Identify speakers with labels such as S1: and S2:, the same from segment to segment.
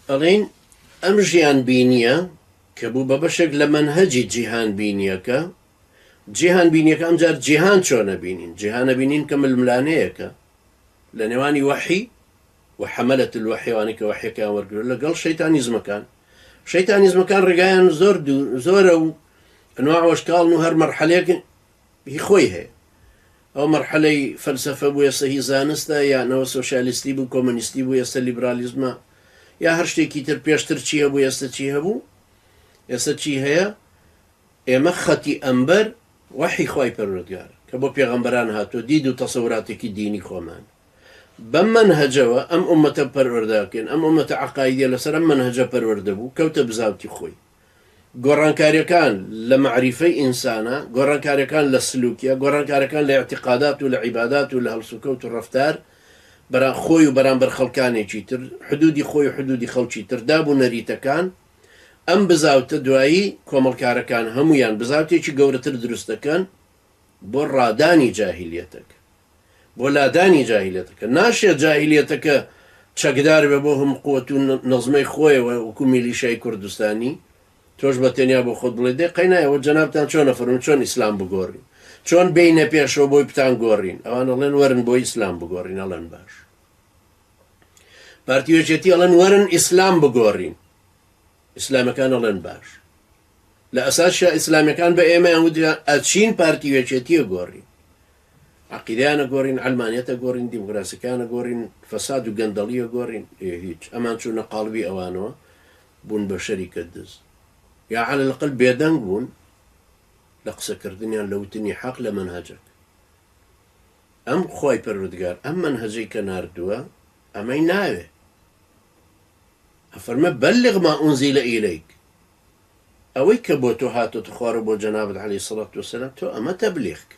S1: ئەڵێین ئەم ژیانبینییە کە بوو بە بەشێک لە مەنهەجی جیهانبینییەکە، جیهانبینییەکە ئەمجار جیهان چۆن ئەبینین، جیهان ئەبینین کە ململانێیەکە لە نێوانی وەحی و حەمەلە الوحی، ئەوانەی کە وەحییەکەیان وەرگرتووە، لەگەڵ شەیتانیزمەکان. شەیتانیزمەکان ڕێگایان زۆر زۆرە و ئەنواع و ئەشکاڵن و هەر مەرحەلەیەک هی خۆی هەیە ئەوە مەرحەلەی فەلسەفە بوو ئێستا هی زانستە یان ئەوە سۆشیالیستی بوو کۆمۆنیستی بوو ئێستا لیبرالیزمە یا هەر شتێکی تر پێشتر چی هەبوو ئێستا چی هەبوو ئێستا چی هەیە ئێمە خەتی ئەمبەر وەحی خوای پەروەردگار کە بۆ پێغەمبەران هاتووە دید و تەسەوراتێکی دینی خۆمان بەم مەنهەجەوە ئەم ئومەتە پەروەردە بکەین ئەم ئومەتە عەقایدیە لەسەر ئەم مەنهەجە پەروەردە بوو کەوتە بزاوتی خۆی گۆڕانکاریەکان لە مەعریفەی ئینسانە، گۆڕانکاریەکان لە سلوکیە، گۆڕانکاریەکان لە ئیعتیقادات و لە عیبادات و لە هەڵسوکەوت و ڕەفتار بەرام خۆی و بەرامبەر خەڵکانێکی تر، حدودی خۆی و حدودی خەڵکی تر، داب و نەریتەکان، ئەم بزاوتە دوایی کۆمەڵکارەکان هەموویان بزاوتێکی گەورەتر دروست دەکەن بۆ ڕادانی جاهیلیەتەک. بۆ لادانی جاهیلیەتەکە ناشێت جاهیلیەتەکە چەکدار بێ بۆ هەموو قوت و نەزمەی خۆیەوە وەکو میلیشای کوردستانی تۆش بە تەنیا بۆ خۆت بڵێ دێ قەینایەوە جەنابتان چۆن نەفەرم چۆن ئیسلام بگۆڕین چۆن بینە پێشەوە بۆی بتان گۆڕین ئەوان ئەڵێن وەرن بۆ ئیسلام بگۆڕین ئەڵێن باش پارتیوێچێتی ئەڵێن وەرن ئیسلام بگۆڕین ئیسلامەکان ئەڵێن باش لە ئەساسشە ئیسلامەکان بە ئێمەیان وتیان ئەچین پارتیوێچێتیە گۆڕین عەقیدەیانە گۆڕین، عەلمانیەتە گۆڕین، دیموکراسیەکانە گۆڕین، فەساد و گەندەڵیە گۆڕین، ئێ هیچ، ئەمان چوونە قاڵبی ئەوانەوە، بوون بە شەریکە دز. یا عەلە الەقەل بێدەنگ بوون لە قسە کردنیان، لە وتنی حەق لە مەنهەجەک. ئەم خوای پەروەردگار ئەم مەنهەجەی کە ناردووە ئەمەی ناوێ. ئەفەرمێ بلغ ما انزل الیک، ئەوەی کە بۆ تۆ هاتۆتە خوارەوە بۆ جەنابت علیە سڵات وسلام تۆ ئەمە تەبلیغ کە.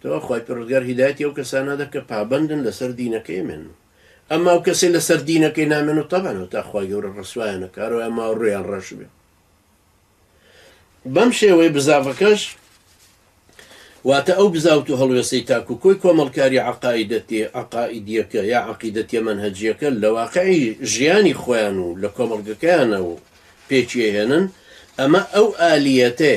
S1: تۆ خوای پەروەردگار هیدایەتی ئەو کەسانە دە کە پابەندن لەسەر دینەکەی ئەمێن و ئەما و کەسەی لەسەر دینەکەی نامێن و تەبان و تا خوای گەورە ڕسوایانە کارەوە ئەما و ڕویان ڕەش بێ بەم شێوەی بزاڤەکەش واتە ئەو بزاوت و هەڵوێسەی تاکو کۆی کۆمەڵکاری عقاعدەتی عقاعدیەکە یا عقیدەتە منهجیەکە لە واقعی ژیانی خۆیان و لە کۆمەڵگەکەیانە و پێچیهێنن ئەمە ئەو ئالیەتێ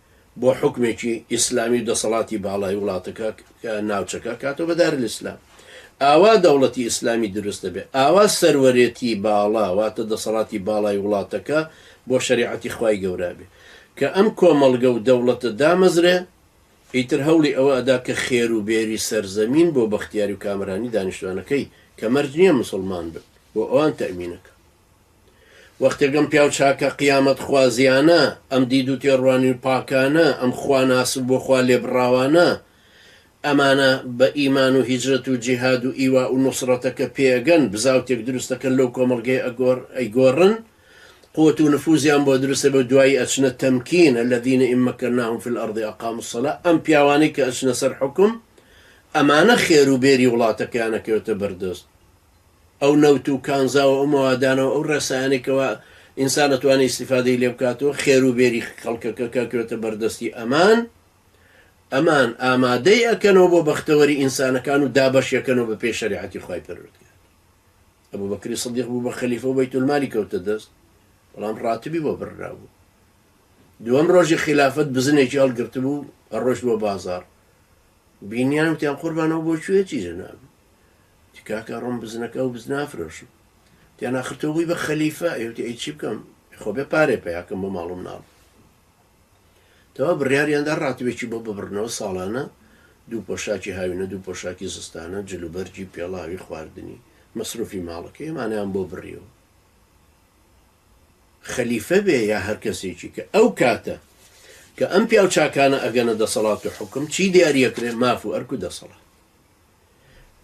S1: بۆ حوکمێکی ئیسلامی و دەسەڵاتی باڵای وڵاتەکە کە ناوچەکە کاتۆ بە دارالاسلام ئاوا دەوڵەتی ئیسلامی دروست دەبێت ئاوا سەروەرێتی باڵا واتە دەسەڵاتی باڵای وڵاتەکە بۆ شەریعەتی خوای گەورە بێت کە ئەم کۆمەڵگە و دەوڵەتە دامەزرێ ئیتر هەوڵی ئەوە ئەدا کە خێر و بێری سەرزەمین بۆ بەختیاری و کامەرانی دانیشتوانەکەی کە مەرج نیە موسڵمان بن بۆ ئەوان تەئمینەکا. وەختێک ئەم پیاو چاکە قیامەتخوازییانە، ئەم دید و تێڕوانین پاکانە، ئەم خواناس و بۆ خوا لێبڕاوانە، ئەمانە بە ئیمان و هیجرەت و جیهاد و ئیوا و نوسڕەتە کە پێئەگەن، بزاوتێک دروستەکەن لەو کۆمەڵگەیە ئەیگۆڕن، قوت و نفوزیان بۆ دروستە بێ و دوایی ئەچنە تەمکین، الذین ان مکناهم فی الارض اقاموا الصلوە، ئەم پیاوانەی کە ئەچنە سەر حوکم، ئەمانە خێر و بێری وڵاتەکەیان ئەکەوێتە بەردەست. ئەو نەوت و کانزا و ئەو مەوادانە و ئەو ڕێسایانەی کەوا ئینسان ئەتوانێ ئیستیفادەی لێ بکات و خێرو بێری خەڵکەکە کەکەوێتە بەردەستی ئەمان، ئەمان ئامادەی ئەکەنەوە بۆ بەختەوەری ئینسانەکان و دابەشی ئەکەنەوە بە پێی شەریعەتی خوای پەروەردگار. ئەبو بەکری سدیق بوو بە خەلیفە و بەیتولمالی کەوتە دەست، بەڵام ڕاتبی بۆ بڕرابوو. دووەم ڕۆژی خیلافەت بزنێکی هەڵگرتبوو ئەڕۆشت بۆ بازاڕ، بینیان وتیان قوربان ئەو بۆ کوێ چی جەنابی؟ تکاکە ڕۆم بزنەکە و بزن ئافرۆشم تیان ئاخر تۆ بووی بە خەلیفە ئێوتی ئەی چی بکەم خۆ بێ پارێ پیاکەم بۆ ماڵ و مناڵ تەوا بڕیاریاندا ڕاتبێکی بۆ ببڕنەوە ساڵانە دوو پۆشاکی هاوینە دوو پۆشاکی زستانە جلوبەرگی پێڵاوی خواردنی مەسروفی ماڵەکە ئێمانیان بۆ بڕیەوە خەلیفە بێ یا هەر کەسێکی کە ئەو کاتە کە ئەم پیاو چاکانە ئەگەنە دەسەڵات و حکم چی دیارەکرێ ماف و ئەرک و دەسەڵات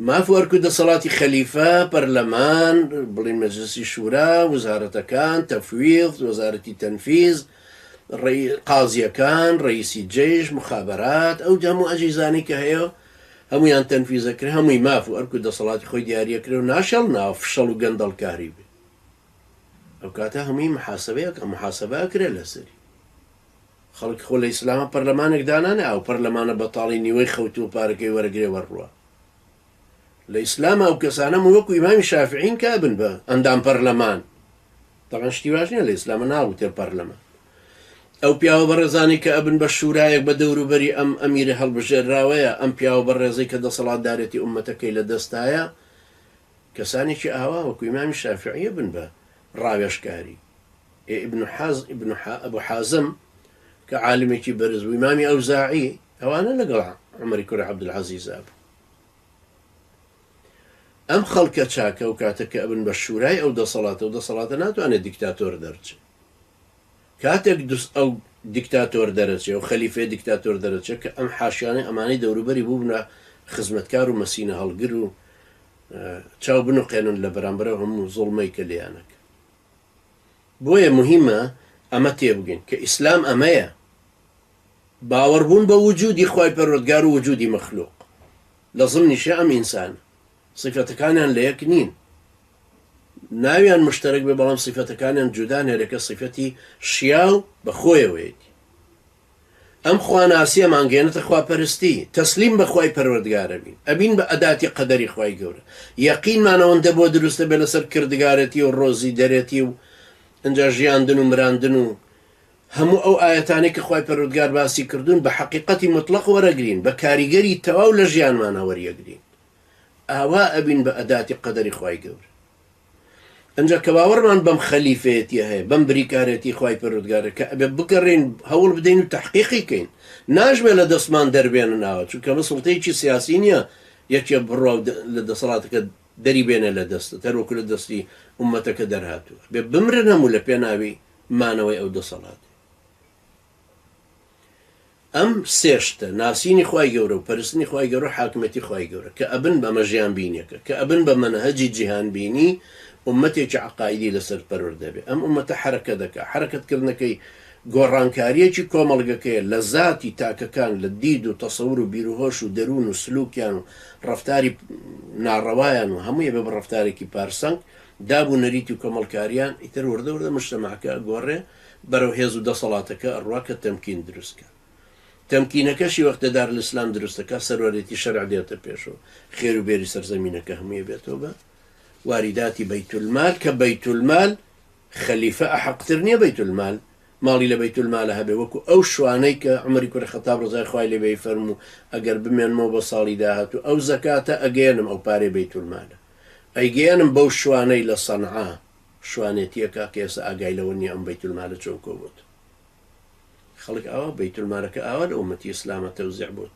S1: ماف و ئەرک و دەسەڵاتی خەلیفە، پەرلەمان، بڵێین مەجلسی شورا، وزارەتەکان، تفویض، وەزارەتی تەنفیز، قازییەکان، ڕەییسی جەیش، مخابەرات، ئەو هەموو ئەجیزانەی کە هەیە هەموویان تەنفیزە کرێ، هەمووی ماف و ئەرک و دەسەڵاتی خۆی دیاریە کرێ و ناشێڵناوە فشەڵ و گەندەڵکاری بێ. ئەوکاتە هەمووی محاسەبەی ئەکا، محاسەبە ئەکرێ لەسەری. خەڵک خۆ لە ئیسلاما پەرلەمانێک دانانێ ئەو پەرلەمانە بەتاڵی نیوەی خەوتووە پارەکەی وەرەگرێ وەرڕوا لە ئیسلاما ئەو کەسانە وەکو ئیمامی شافعین کا بن بە ئەندام پەرلەمان طبعا شتی واش نیە لە ئیسلامە ناوتێ پەرلەمان ئەو پیاوە بەڕێزانی کە ئەبن بە شورایەک بە دەوروبەری ئەم ئەمیرە هەڵبژێراوەیە ئەم پیاوە بەڕێزەی کە دەسەڵاتدارێتی ئومەتەکەی لە دەستایە کەسانێکی ئاوا وەکو ئیمامی شافعیە بن بە ڕاوێژکاری ئێ ئیبن حاز ئیبن ئەبو حازم کە عالمێکی بەرز بووی مامی ئەوزاعی ئەوانە لەگەڵ عمەری کوری عبدالعزیزا بوو ئەم خەڵکە چاکە و کاتە کە ئەبن بە شورای ئەو دەسەڵاتە و دەسەڵاتە ناتوانێت دیکتاتۆر دەرچێ کاتێک دوست ئەو دیکتاتۆر دەرەچێ و خەلیفێ دیکتاتۆر دەرەچێت کە ئەم حاشیانەی ئەمانەی دەوروبەری بووبنە خزمەتکار و مەسینە هەڵگر و چاو بنوقێنن لە بەرامبەرە هەموو زڵمەی کە لیانەکە بۆیە موهیمە ئەمە تێبگەین کە ئیسلام ئەمەیە باوەڕبوون بە وجودی خوای پەروەردگار و وجودی مەخلوق لە ضمنیشە ئەم ئینسانە صفەتەکانیان لە یەک نین ناویان مشتەرەک بێ بەڵام صفەتەکانیان جودان هەرەکە صفەتی شیاو بە خۆیەوەیەتی ئەم خواناسیە مانگەێنتە خواپەرستی تەسلیم بە خوای پەروەردگار ئەبین ئەبین بە ئەداتی قەدەری خوای گەورە یەقینمان ئەوەندە بۆ دروست ئەبێ لەسەر کردگارەتی و ڕۆزی دەرێتی و ئنجا ژیاندن و مراندن و هەموو ئەو ئایەتانەی کە خوای پەروەردگار باسی کردوون بە حەقیقەتی مطلق وەرەگرین بە کاریگەری تەواو لە ژیانمانا وەریەگرین ئاوا ئەبین بە ئەداتی قەدەری خوای گەورە ئنجا کە باوەڕمان بەم خەلیفەیەتیە هەیە بەم بریکارێتی خوای پەرۆردگارە کە ئەبێ بگەڕین هەوڵ بدەین و تحقیقی کەین ناژمێ لە دەستمان دەربێنە ناوە چونکە مە سڵتەیەکی سیاسی نییە یەکێ بڕوا لە دەسەڵاتەکە دەری بێنە لە دەستە تەروەکو لە دەستی ئومەتەکە دەرهاتووە بێ بمرن هەموو لە پێناوی مانەوەی ئەو دەسەڵاتێ ئەم سێ شتە، ناسینی خوای گەورە و پەرستنی خوای گەورە و حاکمێتی خوای گەورە، کە ئەبن بە مەژیان بینیەکە، کە ئەبن بە مەنهەجی جیهان بینی، ئوممەتێکی عەقائیدی لەسەر پەروەر دەبێ. ئەم ئوممەتە حەرەکە دەکا، حەرەکەت کردنەکەی گۆڕانکاریەکی کۆمەڵگەکەیە لە زاتی تاکەکان لە دید و تەسەور و بیروهۆش و دەروون و سلوکیان و ڕەفتاری ناڕەوایان و هەمووی ئەبێ بە ڕەفتارێکی پارسەنگ، داب و نەریتی و کۆمەڵکاریان ئیتر وردە وردە مجتمعەکە ئەگۆڕێ، بەرەو هێزو دەسەڵاتەکە ئەڕوا کە تەمکین دروستکا تەمکینەکەشی وەختێ دارلسلام دروستەکا سەروەرێتی شەرع دێتە پێشو خێرو بێری سەرزەمینەکە هەموی ئەبێتەوە بە واریداتی بەیتولمال کە بەیتولمال خەلیفە ئەحەقتر نیە بەیتولمال ماڵی لە بەیتولمالە هەبێ وەکو ئەو شوانەی کە عومەری کوری خەتاب ڕەزای خوای لێبێ ئەیفەرمو ئەگەر بمێنمەوە بۆ ساڵی داهاتو ئەو زەکاتە ئەگەیەنم ئەو پارەی بەیتولمالە ئەیگەیەنم بەو شوانەی لە سەنعا شوانێتیە کاکە ئێستا ئاگای لەوە نیە ئەم بەیت المالە چۆن کۆبوت خەڵک ئاوا بەیت المالەکە ئاوا لە ئومەتی ئیسلامە تەوزیع بوت